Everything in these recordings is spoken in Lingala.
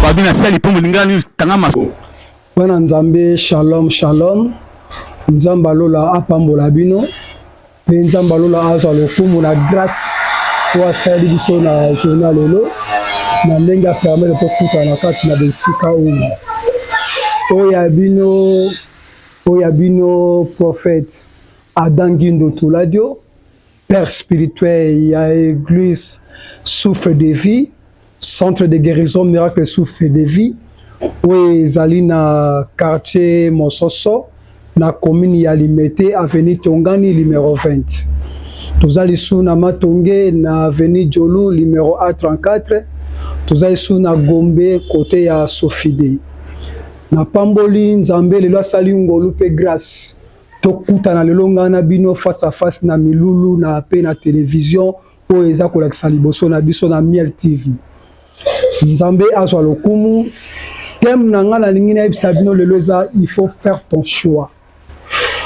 babi na sali mpo molinga nini tanga maso bana nzambe shalom shalom nzambe alola apambola bino mpe nzambe alola azwa lokumu na grâce oyo asaleli biso na journa lelo na ndenge apermete tokutana kati na bisika oyo oyo ya bino Oyo ya bino prophète Adam Guindo Toladio, père spirituel ya église Souffle de vie, centre de guérison miracle Souffle de vie oyo ezali na quartier Mososo na commune ya Limete avenue Tongani numéro 20. Toza lisusu na Matonge na avenue Djolu numéro A34. Toza lisusu na Gombe kote ya Sofide. napamboli nzambe lelo asali ngolu mpe grace tokutana lelo ngai na bino face à face na milulu na mpe na televizio oyo eza kolakisa liboso na biso na miel tv nzambe azwa lokumu teme na ngai nalingi nayebisa bino lelo eza il faut faire ton choix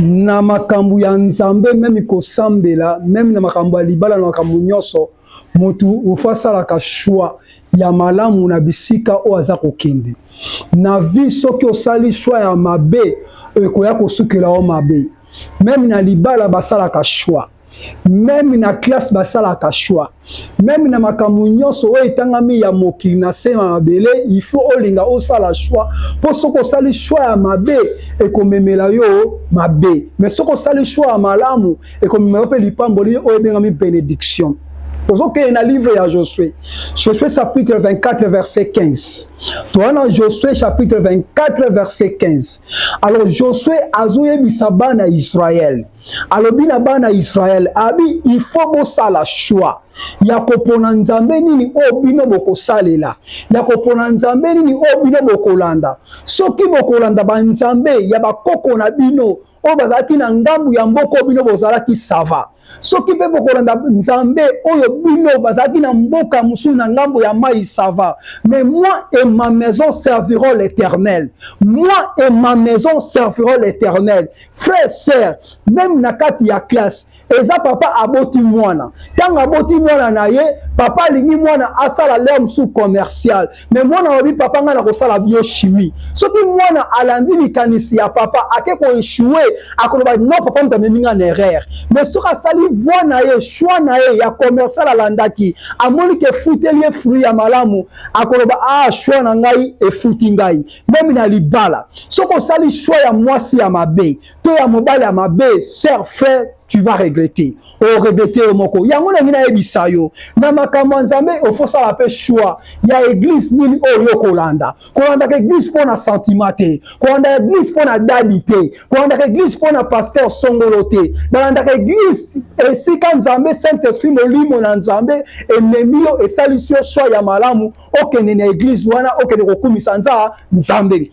na makambo ya nzambe meme kosambela meme na makambo ya libala na makambo nyonso Moto il faut asalaka choix ya malamu na bisika oyo aza kokende. Na vie soki osali choix ya mabe ekoya kosukela yo mabe. Meme na libala basalaka choix. Meme na classe basalaka choix. Meme na makambo nyonso oyo etangami ya mokili na se na mabele, il faut olinga osala choix mpo soki osali choix ya mabe ekomemela yo mabe, mais soki osali choix ya malamu ekomemaka mpe lipamboli oyo ebengami benediction tozokende na livre ya josue josue chapitre 24 verset 15 toza na josue chapitre 24 verset 15 alors josue azoyebisa bana ya israele alobi na bana ya israele abi il faut bosala choix ya kopona nzambe nini oyo bino bokosalela ya kopona nzambe nini oyo bino bokolanda soki bokolanda banzambe ya bakoko na bino oyo bazalaki na ngambu ya mboka oyo bino bozalaki sava soki mpe bokolanda nzambe oyo bino bazalaki na mboka mosusu na ngambo ya mai sava mais moi et ma maison serviront l'éternel moi et ma maison serviront l'éternel frère sœur même na kati ya classe eza papa aboti mwana ntango aboti mwana na ye papa alingi mwana asala lere mosusu commercial me mwana alobi papa ngai nakosala biochimie soki mwana alandi likanisi ya papa ake koechoue akoloba no papa moto amemi ngai na erreur me soki asali voi na ye choix na ye ya commercial alandaki amoni ke efuteli ye fruit ya malamu akoloba a ah, choix na ngai efuti ngai meme na libala soki osali choix ya mwasi ya mabe to ya mobali ya mabe sœur frère tu vas regretter o regretter yo moko yango nangi nayebisa yo na makambo ya nzambe ofosala mpe choix ya eglise nini oyo yo kolanda kolandaka eglise mpo na sentiment te kolandaka eglise mpo na dadi te kolandaka eglise mpo na pasteur songolo te balandaka eglise esika nzambe saint esprit molimo na nzambe ememi yo esalisi yo choix ya malamu okende na eglise wana okende kokumisa nza nzambe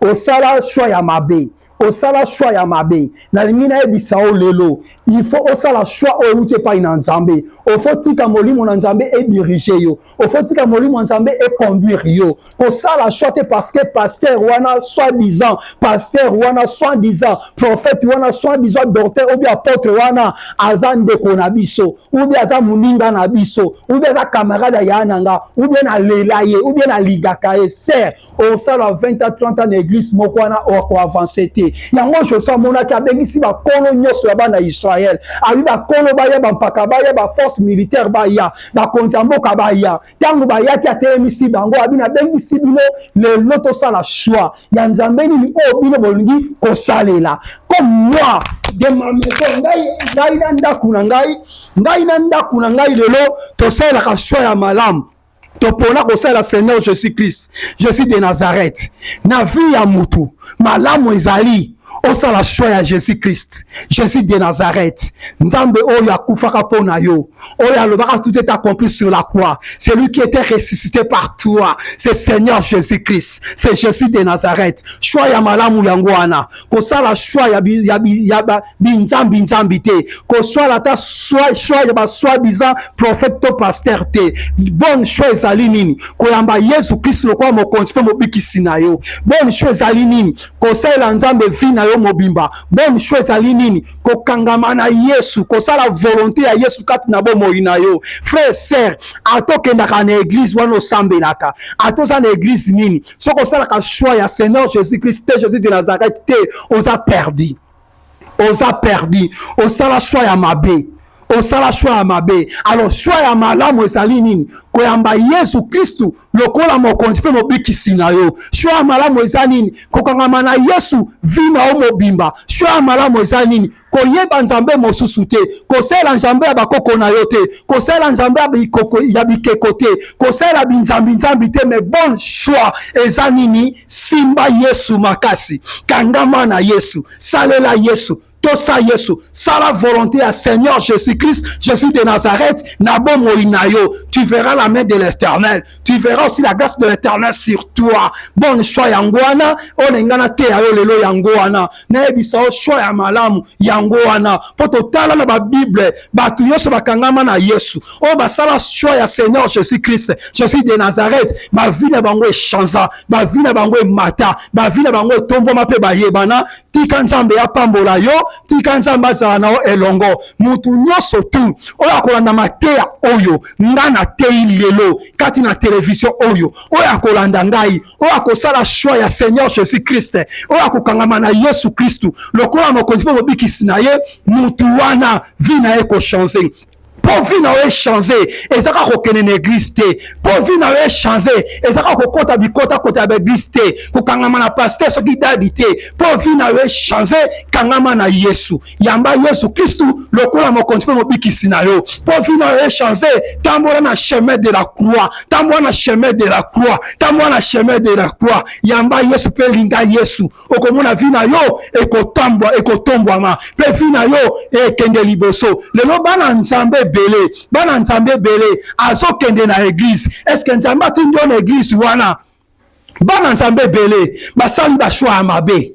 osala choix ya mabe osala choix ya mabe nalingi nayebisa yo lelo il faut osala choix oyo euti epai na nzambe ofo tika molimo na nzambe edirige yo ofo tika molimo ya nzambe econduire yo kosala choix te parce que pasteur wana soit disant pasteur wana soit disant prophète wana soit disant docteur obi apôtre wana aza ndeko na biso ubi aza moninga na biso ubi aza camarade ya na nga ubi nalela ye ubi nalingaka ye ser osala 20 a 30 ans na eglise moko wana okoavanse te yango josu amonaki abengisi bakolo nyonso ya bana ya israele abi bakolo baya bampaka baya baforce militaire baya bakonzi ya mboka baya ntango bayaki atelemisi bango abi nabengisi bino lelo tosala shwa ya nzambe nini oyo bino bolingi kosalela comme moi de ma maison ngai ngai na ndako na ngai ngai na ndako na ngai lelo tosalelaka shwa ya malamu topona kosala seigneur jésus christ jésus de nazareth na vie ya mutu malamu ezali osala shwa ya jésus christ jésus de nazareth nzambe oyo akufaka mpo na yo oyo alobaka tout est accompli sur la croix celui qui était ressuscité par toi c'est seigneur jésus christ c'est jésus de nazareth shwa ya malamu yango wana kosala shwa ya binzambi nzambi te koswala ata shwa ya baswa biza prophète to paster te bonne shwa ezali nini koyamba yesu kristu lokola mokonzi mpe mobikisi na yo bonne shwa ezali nini kosalela nzambe vi na yo mobimba bonne shwa ezali nini kokangama na yesu kosala volonté ya yesu kati na bomoi na yo frère ser ata okendaka na eglise wana osambelaka ata oza na eglise nini soki osalaka choix ya seigneur jésus christ te jésus de nazareth te oza perdi oza perdi osala choix ya mabe osala choix ya mabe alors choix ya malamu ezali nini koyamba yesu kristu lokola mokonzi mpe mobikisi na yo choix ya malamu eza nini kokangama na yesu vi na yo mobimba choix ya malamu eza nini koyeba nzambe mosusu te kosalela nzambe ya bakoko na yo te kosalela nzambe ya bikeko te kosalela binzambinzambi te mais bon choix eza nini simba yesu makasi kangama na yesu salela yesu tosa yesu sala volonté ya seigneur jésus christ jésus de nazareth na bomoi na yo tu verras la main de l'éternel tu verras aussi la grâce de l'éternel sur toi bonne choix yango wana oyo na ngai nateya yo lelo yango wana nayebisa yo choix ya malamu yango wana mpo totala na babible bato nyonso bakangama na yesu oyo basala choix ya seigneur jésus christ jésus de nazareth bavi na bango echanza bavi na bango emata bavi na bango etombwama mpe bayebana tika nzambe apambola yo tika nzambe azala na yo elongo motu nyonso tu oyo akolanda mateya oyo nga nateyi lelo kati na televizio oyo oyo akolanda ngai oyo akosala shwa ya seigneur jésus christ oyo akokangama na yesu kristu lokola mokonzi mpe mobikisi na ye motu wana vi na ye kochange mpo vi na yo echange eza kaka kokende na eglise te mpo vi na yo echange eza kaka kokɔta bikotakota ya baeglise te kokangama na paster soki dabi te mpo vi na yo echange kangama na yesu Yamba Yesu Kristu lokola mokonzi mpe mobikisi na yo mpo vi na yo echange. Tambola na chemin de la croix, tambola na chemin de la croix, tambola na chemin de la croix. Yamba Yesu mpe linga Yesu, okomona vi na yo ekotambwa, ekotombwama mpe vi na yo ekende liboso. Lelo bana Nzambe ebele, bana Nzambe ebele azokende na eglise. Eske Nzambe atindi yo na eglise wana? bana nzambe ebele basali bashwa ya mabe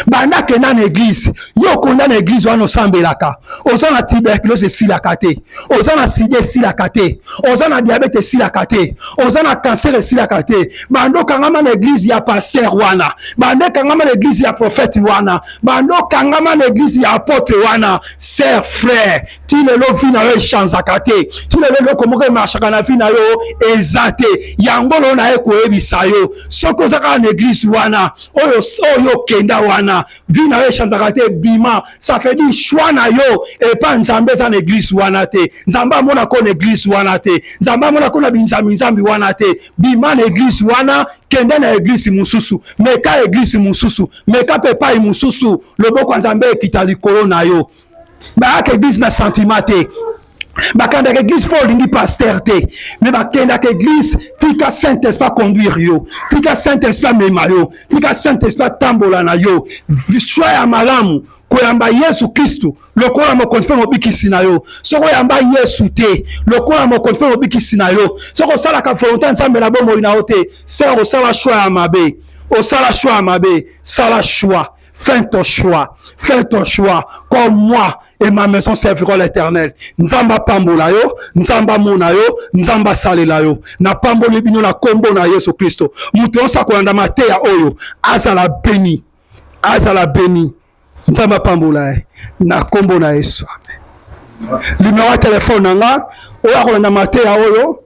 banda kenda na eglize yo okonda na eglize wana osambelaka oza na tuberculose esilaka te oza na sida esilaka te oza na diabete esilaka te oza na kanser esilaka te banda okangama na eglize ya paster wana banda ekangama na eglize ya profete wana banda okangama na eglize ya apotre wana ser frere ti lelo vi na yo echanzaka te ti lelo eloko moko emarshaka na vi na yo eza te yango lelo naye koyebisa yo soki oza kaka na eglise wana oyo oyo okenda wana vi na yo echanzaka te bima ça fait dire choix na yo epa nzambe eza na eglise wana te nzambe amona ko na eglise wana te nzambe amona ko na binzambi nzambi wana te bima na eglise wana kende na eglise mosusu meka eglise mosusu meka mpe epai mosusu loboko ya nzambe ekita likolo na yo bayaka eglise na sentiment te bakendaka eglise mpo olingi paster te me bakendaka eglise tika saint esprit aconduire yo tika saint esprit amema yo tika saint esprit atambola na yo swa ya malamu koyamba yesu kristu lokola mokonzi mpe mobikisi na yo soki oyamba yesu te lokola mokonzi mpe mobikisi na yo soki osalaka volonte ya nzambe na bomoi na yo te seke kosala shwa ya mabe osala shwa ya mabe sala shwa Fais ton choix, fais ton choix. Comme moi et ma maison serviront l'éternel. Nzamba pambola yo, nzamba mona yo, nzamba salela yo. Na pamboli bino na kombo na Yesu Christo. Muto osa kolanda mateya oyo, azala béni. Azala béni. Nzamba pambola ye. Na kombo na Yesu. Amen. Numéro ya téléphone na nga, oya kolanda mateya oyo.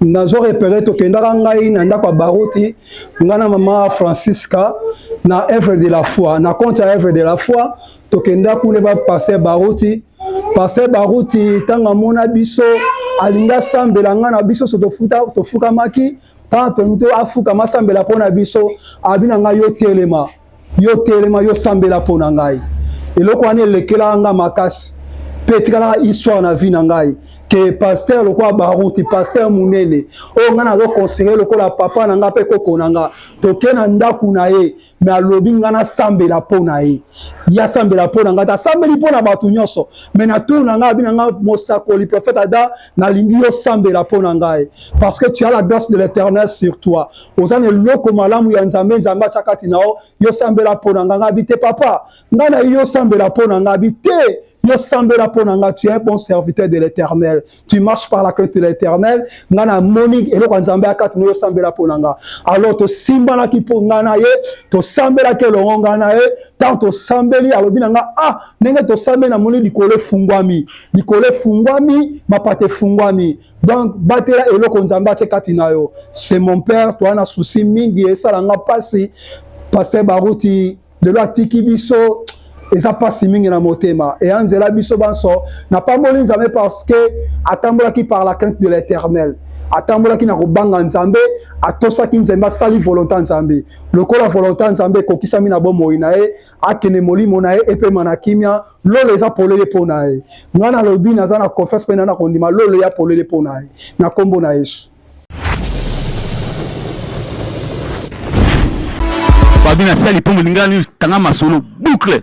nazo repere tokendaka ngai na ndako ya baruti ngai na mama francisca na œuvre de la foi na compte ya œuvre de la foi tokenda kuna ba pasteur baruti pasteur baruti ntango amona biso alingi asambela ngai na biso so tofukamaki ntango toni to afukama asambela mpo na biso abi na ngai yo telema Yo telema, yo sambela mpo na ngai. Eloko wana elekelaka ngai makasi mpe etikalaka histoire na vie na ngai ke pasteur lokola baruti pasteur monene oyo ngai nazo conseille lokola papa na ngai mpe koko na ngai toke na ndako na ye me alobi ngai nasambela mpo na ye ye asambela mpo na ngai te asambeli mpo na bato nyonso me na tour na ngai abi na ngai mosakoli prophète ada nalingi yo sambela mpo na ngai parce que tu as la grâce de l'éternel sur toi oza na eloko malamu ya nzambe nzambe atya kati na yo yo sambela mpo na ngai ngabi te papa ngai na yo sambela mpo na ngabi te yo sambela mpo na ngai tu es un bon serviteur de l'éternel tu marches par la crainte de l'éternel ngai namoni eloko ya nzambe ya kati na yo sambela mpo na ngai alors tosimbanaki mpo ngai na ye tosambelaki elongo ngai na ye ntango tosambeli alobi na ngai ah ndenge tosambeli namoni likolo efungwami likolo efungwami mapata efungwami donc batela eloko nzambe atie kati na yo c'est mon père toa na souci mingi esala nga mpasi paster baruti lelo atiki biso eza mpasi mingi na motema eya nzela biso banso napamboli nzambe parce que atambolaki par la crainte de l'éternel atambolaki na kobanga nzambe atosaki nzambe asali volonta nzambe lokola volonta nzambe ekokisami na bomoi na ye akende molimo na ye epema na kimia lola eza polele mpo na ye ngai nalobi naza na confiance mpe nana kondima lola eya polele mpo na ye na nkombo na yesu babi na sali mpo molingani tanga masolo boucle